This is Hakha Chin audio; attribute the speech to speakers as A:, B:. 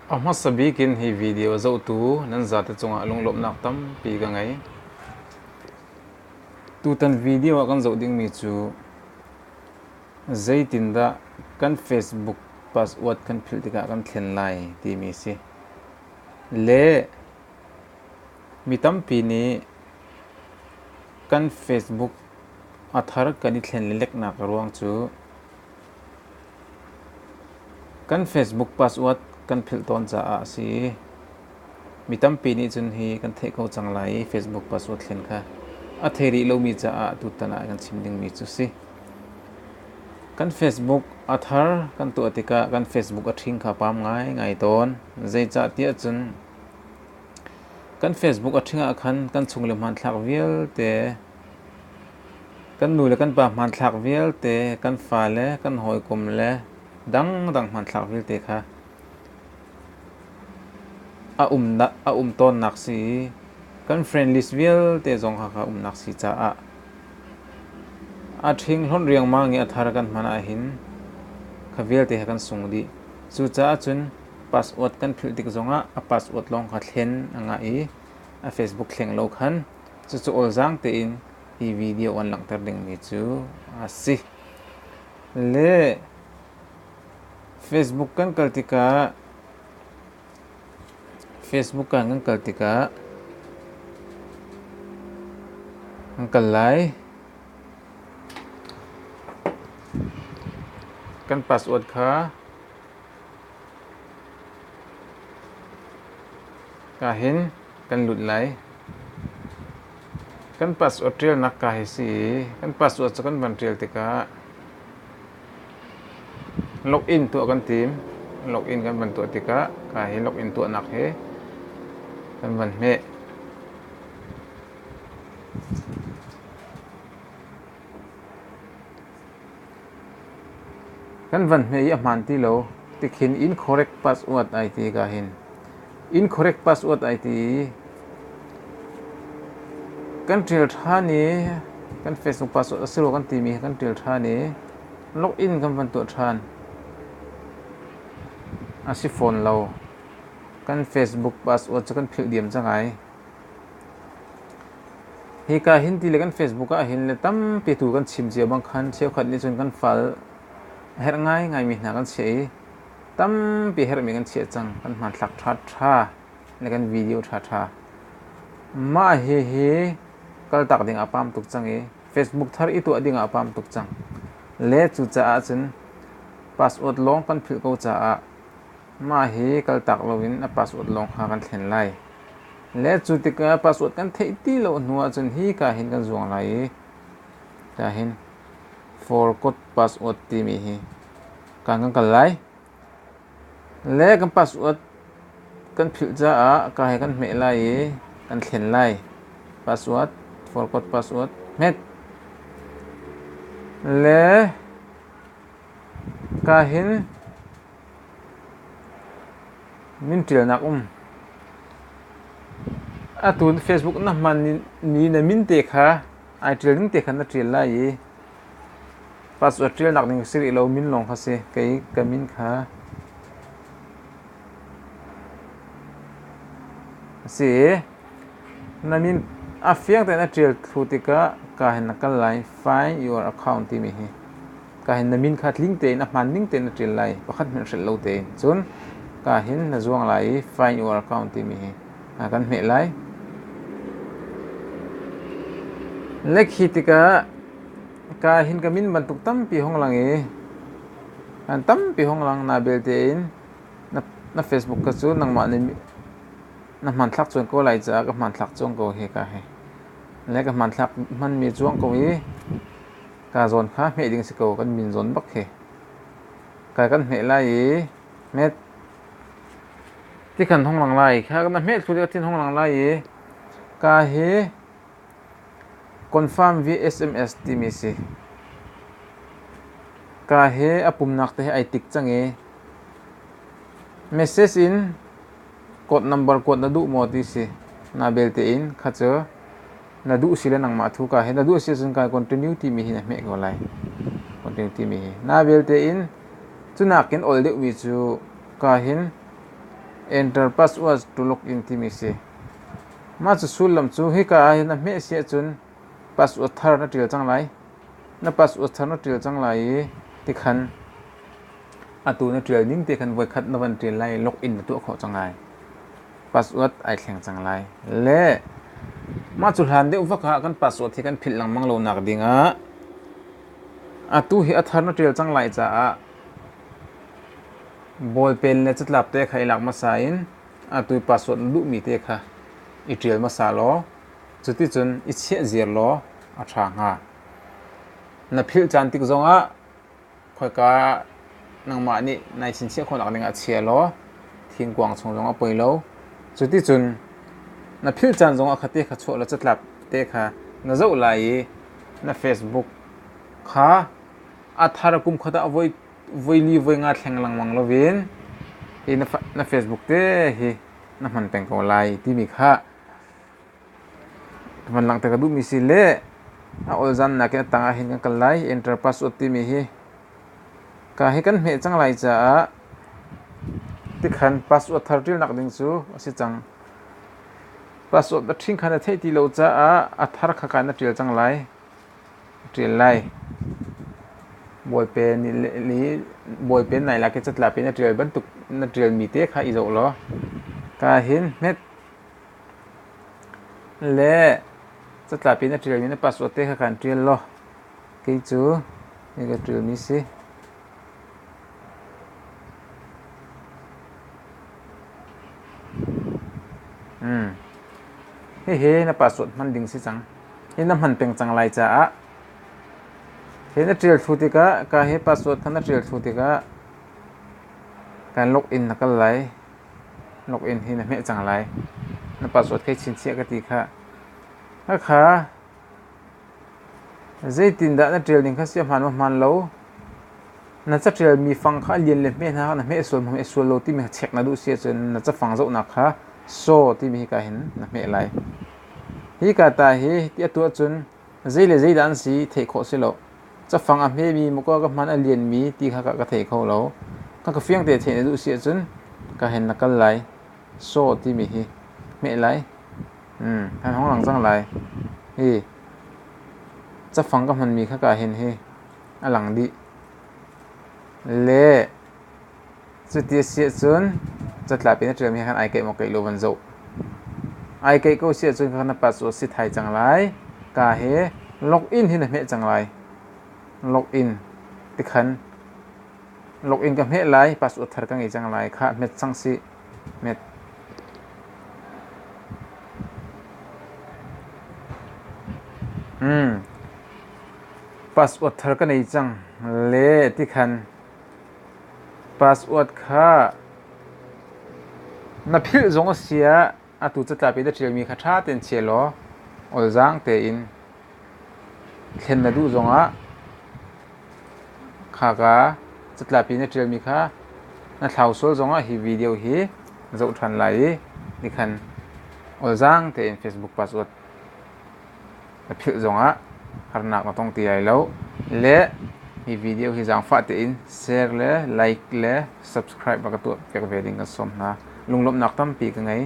A: A hmasa bik in hi video zohtu nan zate cungah lunglawmhnak tampi ka ngei. Tutan video ah kan zoh dingmi cu zeitindah kan Facebook password kan philh tikah kan thlen lai timi si. Le mi tampi nih kan Facebook a thar kan i thlen le lek nak ruang cu Kan Facebook password kan philh tawn caah a si. Mi tampi nih cun hi kan theih ko cang lai i Facebook password thlen kha a thei rih lomi caah tutan ah kan chim dingmi cu si. Kan Facebook a thar kan tuah tikah kan Facebook a ṭhing kha pam ngaingai tawn. Zeicahtiah cun kan Facebook a ṭhing ah khan kan chung le hmanthlak vialte Kan nu le kan pa hmanthlak vialte, kan fale, kan hawikom le dangdang hmanthlak vialte kha a um tawnnak si i kan friend list vialte zong kha ka umnak si caah a ṭhinghlawnh riangmang i a thar kan hman ahhin kha vialte kha kan sung dih. Cucaah cun password kan philh tik zongah a password lawng kha thlen a ngah i a Facebook thleng lo khan Cucu awlzaang tein hi video an langhter dingmi cu a si. Le Facebook kan kal tikah Facebook kan kan kal tikah an kal lai. Kan password kha ka hin kan lut lai. Kan pass u ṭialnak ka hi si i kan pass u cu kan van ṭial tikah login tuah kan tim. Login kan van tuah tikah ka hi login tuahnak hi kan van hmeh. Kan van hme i a hmaan ti lo tikhin incorrect password ai ti ka hin. Incorrect password ai ti i kan ṭial ṭhan i kan Facebook password a si rua kan timi hi kan ṭial ṭhan i login kan van tuah ṭhan. A si fawn lo. Kan Facebook password cu kan philh diam cang ai. Hika hinti le kan Facebook ah hin le tampi tu kan chim cio bang khan cheukhat nih cun kan fal a herh ngaingaimi hna kan chiah i tampi herhmi kan chiah cang. Kan hmanthlak ṭhaṭha le kan video ṭhaṭha. Mah hihi kaltak ding a pam tuk cang i Facebook thar i tuah ding ah a pam tuk cang. Le cucaah cun password lawng kan philh ko caah Mah hi kaltak loin a password lawng kha kan thlen lai. Le cu tikah password kan theih ti lo hnu ahcun hi ka hin kan zuang lai i ka hin forgot password timi hi kan kan kal lai. Le kan password kan philh caah ka he kan hmeh lai i kan thlen lai. Password, forgot password, hmet. Le ka hin Min ṭialnak um. Atu Facebook na hman ni na min te kha ai ṭial ning te khan na ṭial lai i password ṭialnak ding si rih lo min lawng kha si kei ka min kha a si i na min a fiang tein na ṭial thlu tikah kaa hin na kal lai find your account timi hi ka hin na min kha tling tein a hmaan ning tein na ṭial lai pakhat hmanh hrilh lo tein. Cun ka hin na zuang lai i find your account timi hi kan hmeh lai. Lek hi tikah ka hin ka min bantuk tampi hong lang i an tampi hong lang na belte in na, na Facebook ka cu nangmah na na hman thlak chuan ko lai caah ka hman thlak chuang ko hi ka hi le ka hman thlak hmanmi chuang ko i kaa zawn hna hmeh ding si ko kan min zawn bak hi kai kan hmeh lai i met ti kan hong lang lai kha kan hmeh thlu ti hong lang lai i ka hi confirm vsms timi si ka hi a pumnak te hi ai tik cang i message in Code number kuat na duh maw ti si. Na belte in kha cu na duh si le nangmah thu ka hi na duh si ahcun kai continue timi hi na hmeh ko lai. Continue timi hi. Na belte in cunak in ol deuhmi cu ka hin enter password to log in timi si. Mah cu sullam cu hika ah hin na hmeh si ahcun password thar na ṭial cang lai. Na password thar na ṭial cang lai i tikhan atu na ṭial ning te khan voikhat na van ṭial lai login na tuah khawh cang ai password ai thleng cang lai le mah cu hlan deuh vak ah kan password hi kan philh lengmang lo nak ding ah atu hi a thar na ṭial cang lai caah ballpen le catlap te kha i lak hmasa in atu password na duhmi te kha i ṭial hmasa law cuticun i chiah ziar law a ṭha hnga na philh caan tik zong ah khoika nangmah nih nai chinchiah khawhnak ding ah chia law thingkuang chung zong a poi lo cuticun na philh caan zong ah kha te kha chuah law catlap te kha na zoh lai i na facebook kha a thar kum khat ah voi voi li voi nga thleng lengmang lovin i na facebook te hi na hman peng ko lai timi kha Kan van langte ka duhmi si le a olzan nakin a tang ah hin kan kal lai. Enterprise Road timi hi ka hi kan hmeh cang lai caah tikhan password thar ṭilnak ding cu a si cang. Password na ṭhing kha na theih ti lo caah a thar kha ka na ṭial cang lai. Ṭial lai. Bawipe ni le bawipe nai lak i catla pe na ṭial bantuk na ṭialmi te kha i zoh law ka hin hmet Le catlap in na ṭialmi na password te kha kan ṭial law kei cu hi ka ṭialmi si. Hmm. Hihi na password hman ding si cang. Hi na hman peng cang lai caah hi na ṭial thlu tikah ka hi password kha na ṭial thlu tikah kan login na kal lai. login hi na hmeh cang lai. Na password kai chinchiah ka ti khah. Hakha, zeitindah na ṭial ning kha si ahmaan ahmaan lo. Na caṭialmi fang kha a lian le hmeh hna kha na hmeh sual maw hmeh sual lo timi kha check na duh si ahcun na cafang zohnak kha saw timi hika hin na hmeh lai. Hika ta hi, hi ti a tuah cun Zei le zeidah an si theih khawh si lo. Cafang a hmemi muka ka hman a lianmi ti kha ka thei kho lo. Ka ka fiang te theih na duh si ahcun ka hen na kal lai. Saw timi hi hmeh lai. Mm, han hong lang cang lai. Hi cafang ka hmanmi kha kaa hen hi a lang dih. Le Cuti a si ahcun catlap in a ṭialmi he khan ai keih maw keih lo van zoh. Ai keih ko si ahcun kha na pa cu a si thai cang lai. Ka he login hi na hmeh cang lai. Login tikhan login ka hmeh lai, password thar ka ngei cang lai. Khah, hmet sang sih. Hmet. Hmm. Password thar ka nei cang le tikhan Password kha na philh zong a si ah atu catlap i na ṭialmi kha ṭha tein chia law awlzaang tein thlen na duh zongah khaka catlap i na ṭialmi kha na thlau sual zongah hi video hi na zoh ṭhan lai i nikhan awlzaang tein Facebook password na philh zongah harnak na tong ti lai lo. Le hi video hi zaangfah tein share le like le subscribe a ka tuah piak ve ding kan sawm hna. Lunglawmhnak tampi ka ngei.